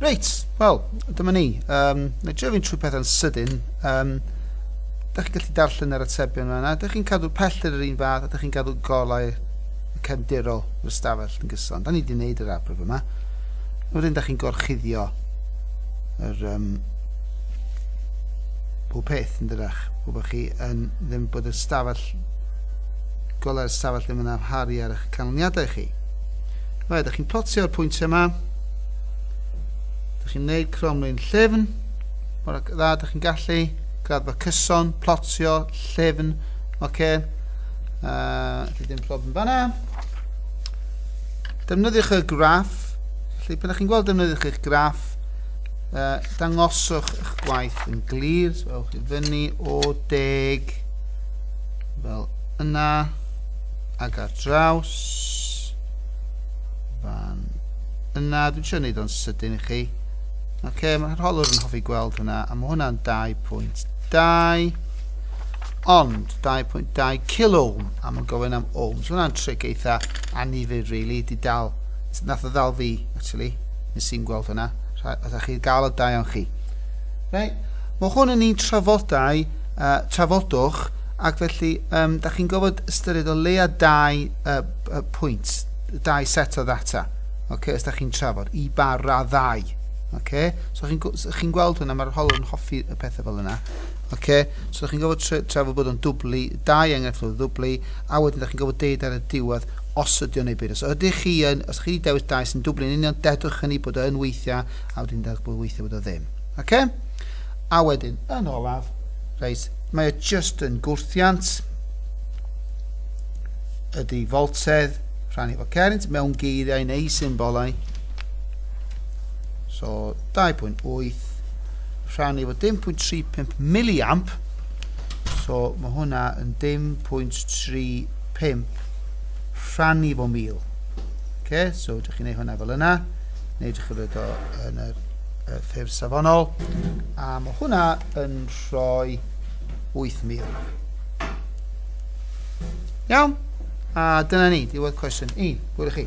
Reit, wel, dyma ni. Um, na drio fi'n trwy pethau'n sydyn. Um, da chi'n gallu darllen yr atebion yna. Da chi'n cadw pellter yr un fath a da chi'n cadw golau cefndirol yr ystafell yn gyson. Da ni wedi gwneud yr arbryf yma. Wedyn da chi'n gorchuddio yr um, pob peth yn dydach. Gwybod chi yn ddim bod y stafell Gollai'r ystafell ddim yn amharu ar eich canlyniadau chi. Rhaid, ydych chi'n plotio'r pwyntiau yma. Ydych chi'n gwneud cromlun llefn. Mor dda, ydych chi'n gallu. Graddfa cyson, plotio, llefn. Oce. Okay. Uh, chi ddim problem fanna. Defnyddiwch y graff. Felly, pan ydych chi'n gweld defnyddiwch eich graff, uh, dangoswch eich gwaith yn glir. So, ewch i fyny o deg fel yna ac ar draws fan yna dwi'n siarad neud o'n sydyn i chi Ok, mae'r holwr yn hoffi gweld hwnna, a mae hwnna'n 2.2, ond 2.2 kilo ohm, a mae'n gofyn am ohms. Hwnna'n tric eitha anifyr, really, di dal, nath o ddal fi, actually, nes i'n gweld hwnna, oedd chi gael o da iawn chi. Right? Mae hwn yn un trafodau uh, trafodwch, ac felly um, da chi'n gofod ystyried o leia dau uh, uh, pwynt, dau set o ddata, okay, os da chi'n trafod, i ba raddau. Okay? So chi'n so chi gweld hwnna, mae'r holwr yn hoffi y pethau fel yna. Okay? So da chi'n gofod trafod bod o'n dwblu, dau enghraifft o ddwblu, a wedyn da chi'n gofod deud ar y diwedd os ydy o'n ei byd. Os ydych chi yn, os chi wedi dewis dau sy'n dwblu yn union, dedwch hynny bod o'n weithiau, a wedyn dedwch bod weithiau bod o ddim. Okay? A wedyn, yn olaf, reit, mae o just yn gwrthiant ydy foltedd rhan efo cernt mewn geiriau neu symbolau. So 2.8 rhan efo 10.35 miliamp. So mae hwnna yn 10.35 rhan efo mil. Okay, so ydych chi'n gwneud hwnna fel yna, neu ydych chi'n rhoi o yn yr y ffurf safonol, a mae hwnna yn rhoi 8,000. Iawn? A dyna ni, diwedd cwestiwn 1. Hwyl i chi.